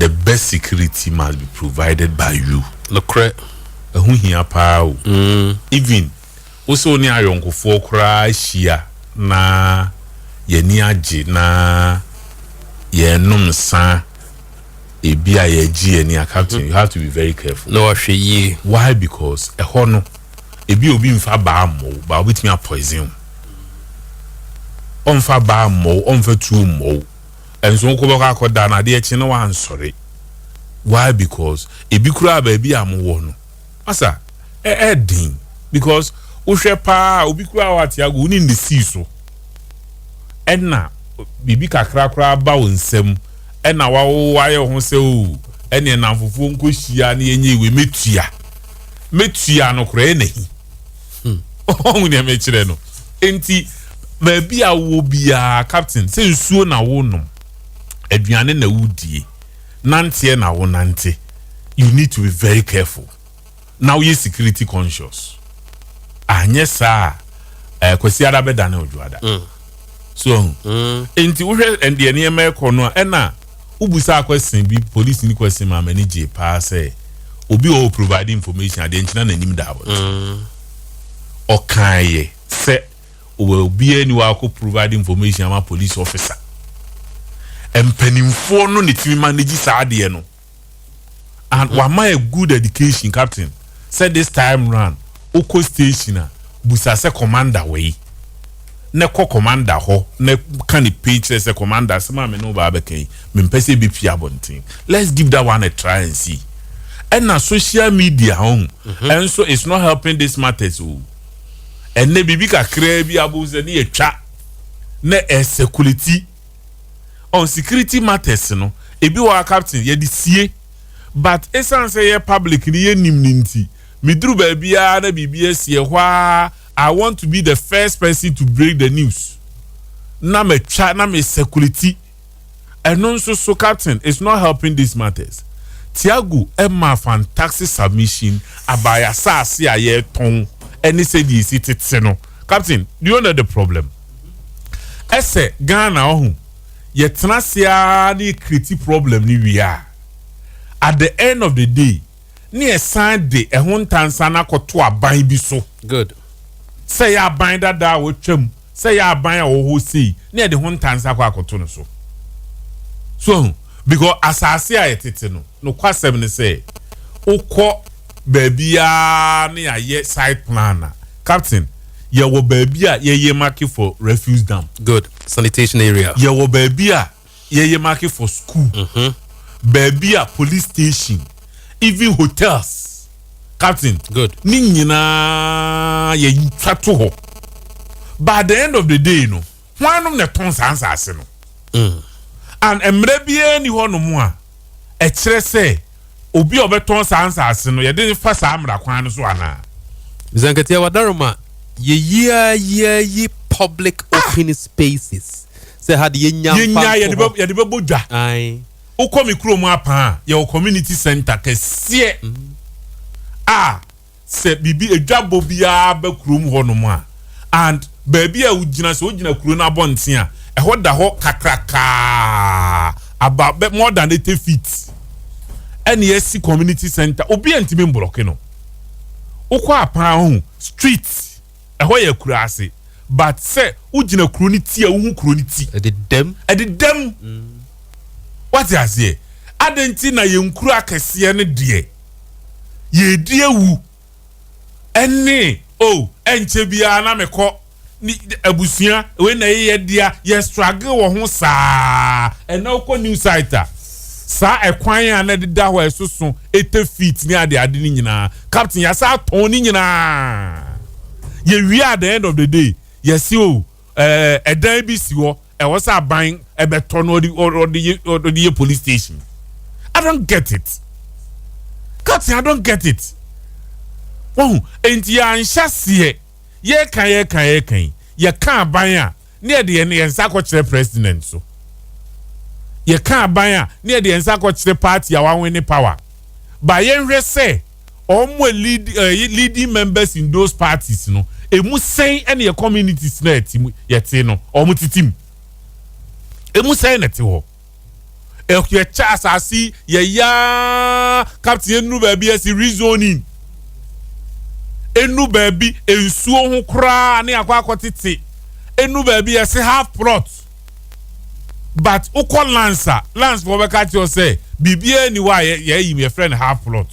The best security must be provided by you. Nokorɛ, ɛho hia paa o. Mm. Even wo sɛ wo ne ayɔnkofoɔ koraa hyia na yɛani agye na yɛnom nsa ebi a yɛagye yɛn ani a, Captain, you have to be very careful. Na wahwɛ yie. Why? Because ɛhɔ no. ebi a obi mfa baa mmɔ wo baa obetumi apoison wo ɔmfa baa mmɔ wo ɔmfa tuo mmɔ wo ɛnso wokɔ bɛkɔ akɔda na adeɛ kye na wansɔre why because ebi koraa baabi a mo wɔ no asa ɛɛden because wohwɛ paa obi koraa wɔ ate ago wo ne ne sii so ɛna biribi kakra koraa ba wo nsam ɛna wawo ayɛ ho sɛ o ɛne nnamfofoɔ nkɔhyia ne yɛnyɛ iwe mɛtua metua no koraa na hi hmm. ɔhu nea mekyerɛ no nti baabi a wɔ biara captain sɛ nsuo na wonom aduane na wodie nanteɛ na wonante you need to be very careful na woyɛ security conscious anyɛ saa a eh, kwasi ada bɛdane odwoada mm. so ahu mm. nti wohwɛ ɛndeɛ nneɛma ɛkɔ no a ɛna wobusa question bi polisi ni question ma m'ani gye paa sɛ obi wɔ provide information adeɛ nkyina n'anim da wɔ mm. ɔkan yɛ sɛ wɔ obiara ni wakɔ provide information ama police officer mpanimfoɔ no ne tumi ma ne gye saa adeɛ no and mm-hmm. wama yɛ good education captain sɛ this time round wokɔ station a busa sɛ commander wei na kɔ commander hɔ na ka ne pay kyerɛ sɛ commander sɛ maame ne wo baa bɛka yi mempɛ sɛ ɛbɛpie abɔnten let's give that one a try and see ɛna social media ho mm-hmm. ɛnso it's not helping this matters o ɛnɛ biribi kakraa bi abo sɛ ne yɛtwa na ɛsɛ kuliti on security matters no ebi wɔ hɔ a captain yɛde sie but esan sɛ yɛ public no yɛ nim no nti me duru baabiaa na biribi asi ɛhɔ aa I want to be the first person to break the news na ma twa na me circulate ɛno nso so captain is not helping these matters Tiago ɛma fantastic submission about yɛ asaase a yɛtɔn ɛne sɛdeɛ esi tete no captain do you know the problem. Ɛsɛ Ghana ɔho yɛtena ase ara na yɛ create problem no wie a at the end of the day na yɛsan de ɛho ntansa no akɔto aban bi so. Good. Sɛ yɛ aban dada a wɔatwam, sɛ yɛ aban a wɔwɔ hɔ sei na yɛde ho ntansa akɔ akɔto no so. So ho because asase a yɛtete no nokwasɛm ne sɛ wokɔ baabiara na yɛayɛ site plan a Captain, yɛwɔ baabi a yɛyɛ make for refuse dump. Good. Sanitation area. Yɛwɔ baabi a yɛyɛ make for school. Mm -hmm. Baabi a police station, even hotels. Captain. Good. Ne nyinaa yɛtwa to hɔ. By the end of the day no. Hwannom na ɛtɔn saa nsaase no? And mmara biara nni hɔnom a ɛkyerɛ sɛ obi a ɔbɛtɔn saa nsaase no, yɛde no fa saa mmara kwan no so anaa? Mr. Nketia, wadaroma, yɛyi ara yi ara yi public ah! open spaces sɛ ha de yɛnya mfa nto hɔ. Yɛde bɛbɔ dwa. Wokɔ me kurom apaa, yɛwɔ community center kɛseɛ. Mm. Ah! Sɛ biribi, adwabɔ biara ba kurom hɔnom a, and baabi a wogyina, sɛ wogyina kuro no abɔnten a, ɛhɔ da hɔ kakrakaa, about bɛ, more than eighty feet, ɛne asi community center. Obiara ntumi mblɔke no. Wokɔ a paa hu, street, ɛhɔ yɛ akuraase, but sɛ wogyina kuro no ti a, wohu kuro no ti. Ɛdedam. Ɛdedam. Wate aseɛ? Adɛn nti na yɛn nkuro akɛseɛ no deɛ, yɛredi awu ne o oh, ɛnkyɛ biara na mekɔ abusua wei na ɛyɛ yɛdea yɛ struggle wɔ ho saa ɛna wokɔ new site a saa ɛkwan a na ɛdeda hɔ a ɛsoso ɛtɛ feet ne ade ade no nyinaa captain yɛasa atɔn ne nyinaa yɛwie at the end of the day yɛse o oh, ɛɛ ɛdan bi si hɔ ɛwɔ sɛ aban ɛbɛtɔ no ɔde ɔde yɛ ɔde yɛ police station i don't get it captain i don't get it wɔn nti yɛanhyɛ seɛ yɛka yɛka yɛka yi yɛka aban a ne yɛde yɛn yɛn nsa akɔkyerɛ president so yɛka aban a ne yɛde yɛn nsa akɔkyerɛ party a wɔawen ne power ba yɛnhwɛ sɛ. wɔn a lead ɛyɛ leading members in those parties no emu sɛn ɛna yɛ communities na ɛte mu yɛte no wɔn tete mu emu sɛn na ɛte hɔ yɛkyɛ asase yɛyaa captain enu baabi yɛsi rezoning enu baabi nsuo ho koraa ne akɔ akɔ tete enu baabi yɛsi half plot. but wokɔ lands a lands foɔ bɛka akyerɛ wo sɛ biribiara ni hɔ a yɛayi mu yɛfrɛ no half plot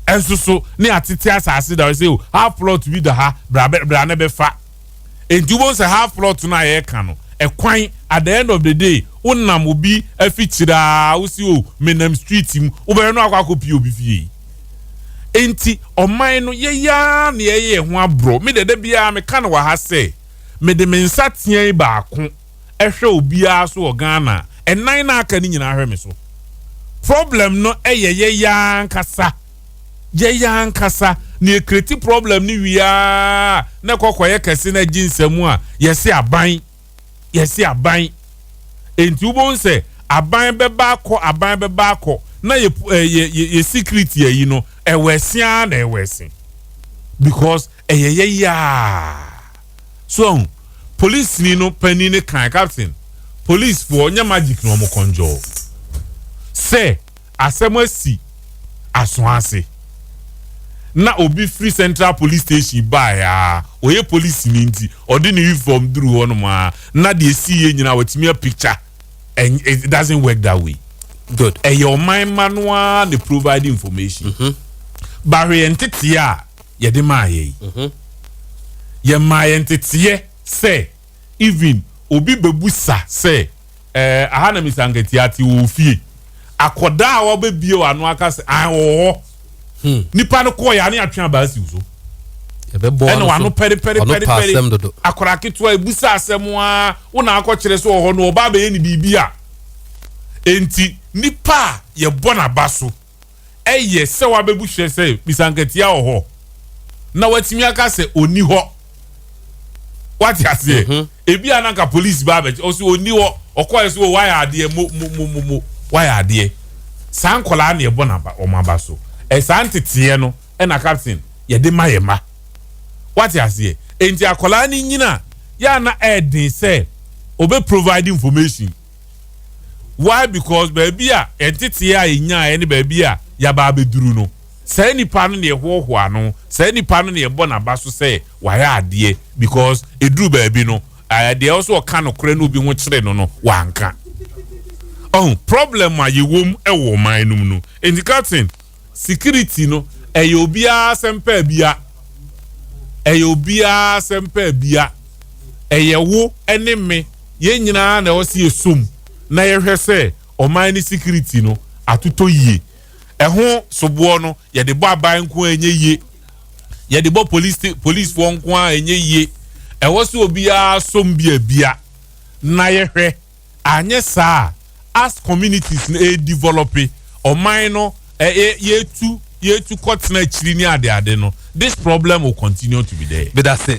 ɛnso so ne atete asase da hɔ sɛ oh, half plot bi da ha bra bra ne bɛfa enti wobɛhu sɛ half plot no a yɛreka no ɛkwan at the end of the day wonam obi afikyiri a wosi o oh, menam street mu wobɛyɛ no akɔ akɔpie obi fie enti ɔman no yɛyaa ne yɛyɛ ho aborɔ me dɛdɛ biara meka no wɔ ha sɛ mede me nsateaa baako hwɛ obiara so wɔ Ghana a, nnan no a aka no nyinaa hwɛ me so. Problem no yɛ yɛn yɛn ankasa. Yɛn yɛn ankasa na yɛkreti problem no wie ara na ɛkɔ kɔyɛ kɛse na agye nsam a, yɛse aban, yɛse aban. Enti wobɛhu sɛ aban bɛba akɔ, aban bɛba akɔ na yɛ, eh, yɛ, yɛ, yɛ security ayi no, ɛwɔ ɛse ara na ɛwɔ ɛse. Because Ɛyɛ yɛ yaa. So wahu? Polisini no panin no kae, Captain, polisfoɔ nyɛ magic na wɔn kɔnjɔɔ sɛ asɛm asi aso ase. Na obi firi Central Police Station baeɛ ara, ɔyɛ polisini nti, ɔde ne uniform duruu hɔnom ara na deɛ ɛsiiɛ nyinaa watumi a picture. It doesn't work that way. Good. Ɛyɛ ɔman mma no ara na provide information. But hwɛ yɛn nteteɛ a yɛde maa yɛ yi, yɛmaa yɛ nteteeɛ sɛ even obi bɛbusa sɛ ɛɛ aha na Mister Nketia te wɔ ofie akɔdaa a wabɛbie w'ano aka sɛ an ɔwɔ hɔ hmm. nipa no kɔɔ yɛ ane atwe abaa siw so ɛna wano pɛrepɛrepɛrepɛre akɔra ketewa ebusa asɛm a wo na akɔkyerɛ sɛ ɔhɔ no ɔba abɛyɛ ne biribi a enti nipa a yɛbɔ n'aba so ɛyɛ sɛ wabebu hyɛ sɛ bisankatia wɔ hɔ na watumi aka sɛ ɔnni hɔ wate aseɛ mhm. ebi a nanka polisi ba abɛkyɛ ɔsɛ ɔnni hɔ ɔkɔɛ so wayɛ adeɛ mo mo mo mo mo wayɛ adeɛ saa nkɔlaa na ɛbɔ n'aba wɔn aba so ɛsaa nteteɛ no ɛna captain yɛde ma yɛ ma wate aseɛ nti akɔlaa no nyina yɛ ana ɛɛden sɛ ɔbɛ provide information. why because baabi a yɛn tetee a yɛnyaeɛ ne baabi a yɛaba abɛduru no saa nipa no na yɛhoahoa no saa nipa no na yɛbɔ n'aba so sɛ wayɛ adeɛ because ɛduru baabi no ɛɛ deɛ ɔsɛ ɔka nokorɛ na obi ho kyere no no wanka ɔho problem a yɛwom ɛwɔ ɔman no mu no nti katen Security no ɛyɛ obiara asɛm pɛ abia ɛyɛ obiara asɛm pɛ abia ɛyɛ wo ɛne me yɛn nyinaa na ɛwɔ sɛ yɛsom na yɛhwɛ sɛ ɔman ne security no atotɔ yie ɛho soboɔ no yɛde bɔ aban nko a ɛnyɛ yie yɛde bɔ police policefoɔ nko a ɛnyɛ yie ɛwɔ sɛ obiara som bi abia na yɛhwɛ Anyɛ saa a, as communities no ɛredivɔlɔpe, ɔman no yɛretu kɔtena akyiri ne adeade no, this problem will continue to be there. Medase